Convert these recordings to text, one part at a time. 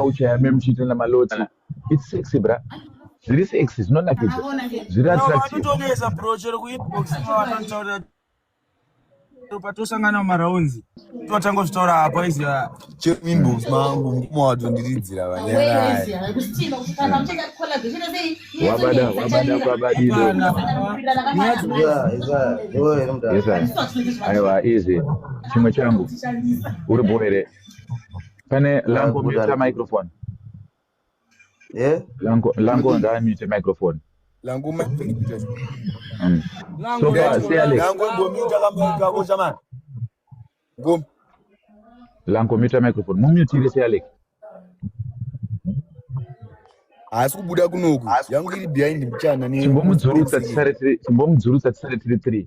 vauchaya me muchiita namaloti its sexy bra zviri sexy zvinonakidza zviri attractivevanotogeza bro chero kuinbox vanotaurira patosangana mumaraunzi totanga zvitaura apo aizi chero kuinbox mangu mukoma wato ndiridzira vanyaraiwabada wabada kwabadidoaiwa izi chimwe changu uri bho here Pane lango mute microphone. Eh? Lango lango nda mute microphone. Lango mute. Mm. Lango mute kamba kako jamani. Ngom. Lango mute microphone. Mumute ile sialek. haasi kubuda kunoku yangu iri behind mchana chimbomudzurutsa tisare tiri 3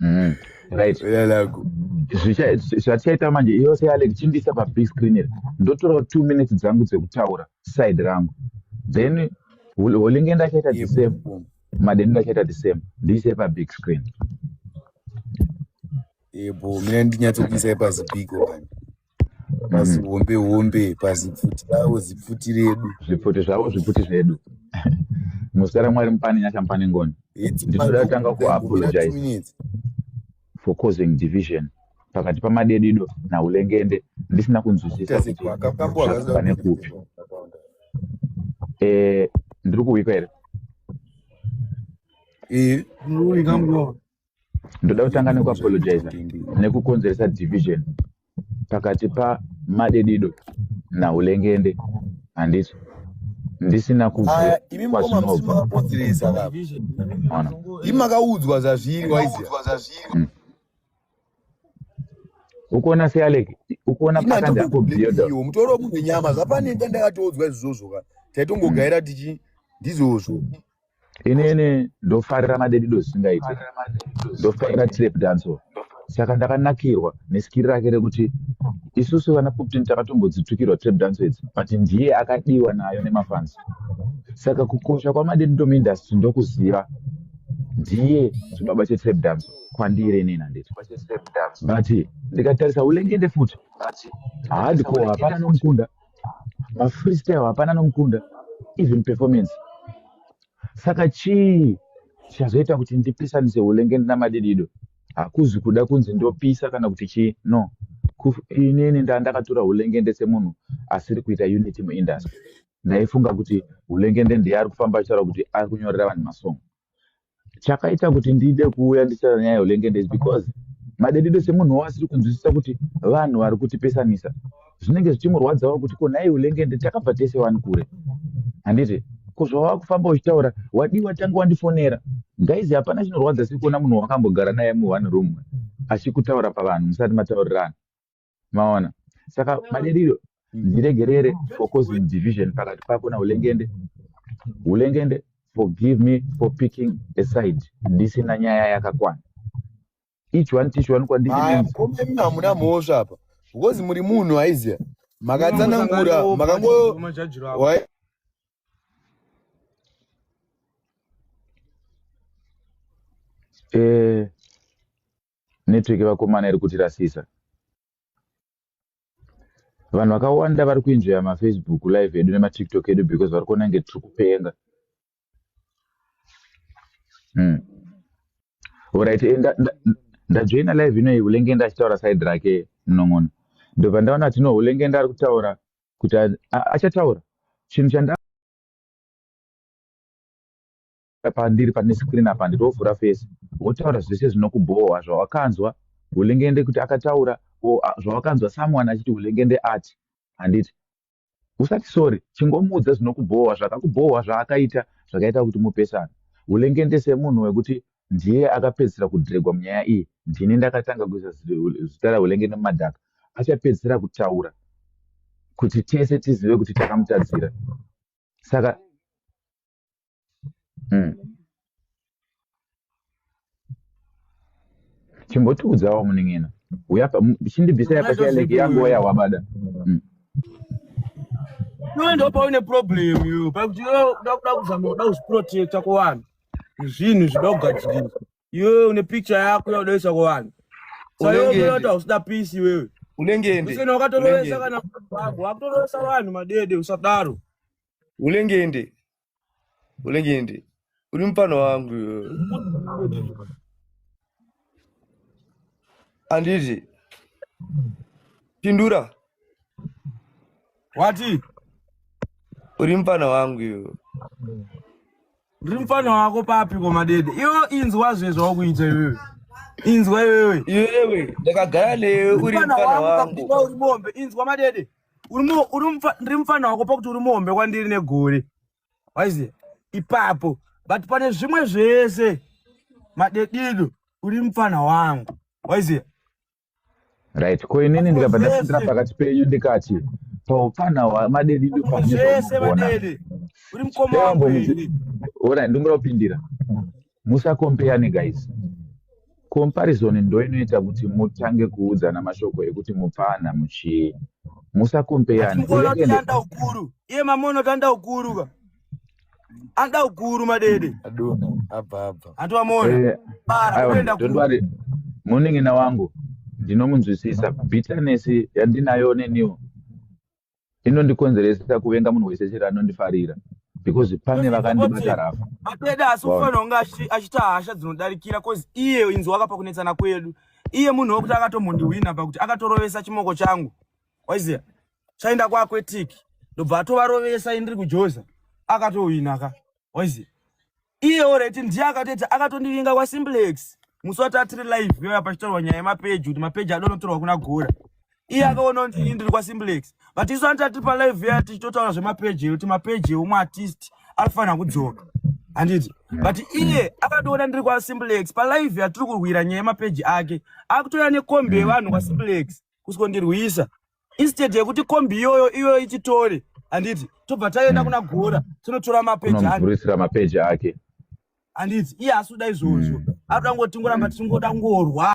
mm. right zvatichaita manje yose yale ndichindisa pabig screen iri ndotorawo two minutes dzangu dzekutaura side rangu then holinge ndachaita the same madeni ndachaita the same ndiise pabig screen ebo mina ndinyatsokuisai pazipiko pazihombe hombe pazipfuti ravo zipfuti redu zvipfuti zvavo zvipfuti zvedu muzita ramwari mupane nyasha mupane ngoni ndinoda kutanga kuapologize for causing division pakati pamadedido naulengende ndisina kunzwisisa kuti zvakafane kupi eh, ndiri kuwika here ndoda kutanga nekuapologiza nekukonzeresa division pakati pamadedido naulengende handiso ndisina kukwazvinobvaimakaudzwa zvazviri hmm. ukuona sealek ukuona pakandakobiyodmutoro munhu nyama zvapanenda ndakatoudzwa izvozvo ka taitongogaira hmm. tichi ndizvozvo inini ndofarira madedido zvisingaiti ndofarira trap danso saka ndakanakirwa neskiri rake rekuti isusu vana puptin takatombodzitukirwa trap danso idzi but ndiye akadiwa nayo nemafansi saka kukosha kwamadedido muindustry ndokuziva ndiye chibaba chetrap dance kwandiri inini handiti but ndikatarisa ulengende futi hardcore hapana nomukunda vafreestyle hapana nomukunda even performance saka chii chichazoita kuti ndipisanise hulengende namadidido hakuzi kuda kunzi ndopisa kana kuti chii no inini ndaa ndakatora hulengende semunhu asiri kuita unity muindustry ndaifunga kuti hulengende ndiye ari kufamba achitaura kuti ari kunyorera vanhu masong chakaita kuti ndide kuuya nditaura nyaya yolengende is because madedede semunhu wo asiri kunzwisisa kuti vanhu vari kutipesanisa zvinenge zvichimurwadzawo kuti ko nhai ulengende takabva tese wani kure handiti ko zvawava kufamba uchitaura wadii watange wandifonera gaizi hapana chinorwadza siri kuona munhu wakambogara naye mu one room achikutaura pavanhu musati mataurirana maona saka maderiro ndiregerere for causing division pakati pako naulengende ulengende forgive me for picking a side ndisina nyaya yakakwana each one teach one kwandirikomemi hamuna mhosva apa because muri munhu aiziya makatsanangura makango eh Network vakomana iri kutirasisa. Vanhu vakawanda vari kuenjoya maFacebook live edu nemaTiktok edu because vari kuona kunge tiri kupenga. Hmm. Alright, eh, ndajoina live inoyi ulenge ndachitaura side rake munon'ona. Ndobva ndaona kuti no ulenge ndari kutaura kuti achataura chinhu chanda pandiri pane screen apa nditovhura face wotaura zvese zvinokubhowa zvawakanzwa hulengende kuti akataura zvawakanzwa someone achiti hulengende ati handiti usati sorry chingomuudza zvinokubhowa zvakakubhowa zvaakaita zvakaita kuti mupesana hulengende semunhu wekuti ndiye akapedzisira kudregwa munyaya iyi ndini ndakatanga kuisa zita rahulengende mumadhaka achapedzisira kutaura kuti tese tizive kuti takamutadzira saka mm. chimbotiudzawo muning'ina chindibvisa yapati yalege yangu waya wabada mm. iwe ndo paune problem yo pakuti kuda kuzama kuda kuzviprotecta kuvanhu zvinhu zvida kugadzirisa Iwewe une picture yako yakudoisa kuvanhu. Saka iwe unota usina peace iwewe. Unenge ende. Usina wakatorovesa kana baba, wakutorovesa vanhu madede usadaro. Unenge ende. Unenge ende. Uri mfana wangu. Anditi. Pindura. Wati? Uri mfana wangu iwe. Ndiri mfana wako papi koma dede. Iwo inzwa zve zvawakuita iwewe. Inzwa iwewe. Iwewe ndakagara newe uri mfana wangu. Uri mombe inzwa madede. Uri uri ndiri mfana wako pakuti uri mombe kwandiri negore. Waiziya? Ipapo. But pane zvimwe zvese madedido uri mfana wangu. Waiziya? right ko inini ndikabva ndapindira pakati penyu ndikati paupana madedi ndopaaona ndingoda kupindira musakompeyane guys comparison ndo inoita kuti mutange kuudzana mashoko ekuti mupfana muchii musakompeyane iye mamono tanda ukuru ka Anda ukuru madede. Aduna abva abva. Antu amona. Eh, Bara kuenda ku. Morning na wangu. Ndinomunzwisisa bitterness yandinayo neniwo. Inondikonzeresa kuvenga munhu wese chero anondifarira because pane vakandibata rafa. Madede asi ufanira kunge achita hasha dzinodarikira cause iye inzwa akapa kunetsana kwedu. Iye munhu wekuti akatombondiwina pakuti akatorovesa chimoko changu. waiziva chaenda kuaquetic ndobva atovarovesa indiri kujoza akatohwina ka waiziva iye oreti ndiye akatoti akatondivinga kwasimplex musi wati atiri live yoya pachitaurwa nyaya yemapeji kuti mapeji adonotorwa kuna gora iye akaona kuti ini ndiri kwasimplex but isu anti atiri palive yoya tichitotaura zvemapeji ekuti mapeji eumwe artist anofanira kudzoka handiti but iye akatoona ndiri kwasimplex palive yatiri kurwira nyaya yemapeji ake akutouya nekombi yevanhu kwasimplex kusikondirwisa instead yekuti kombi iyoyo iyoyo ichitore handiti tobva taenda kuna gora tinotora mapeji akeisira mapeji ake handiti iye asi kuda izvozvo mm. akuda kungo tingoramba tichingoda kungorwa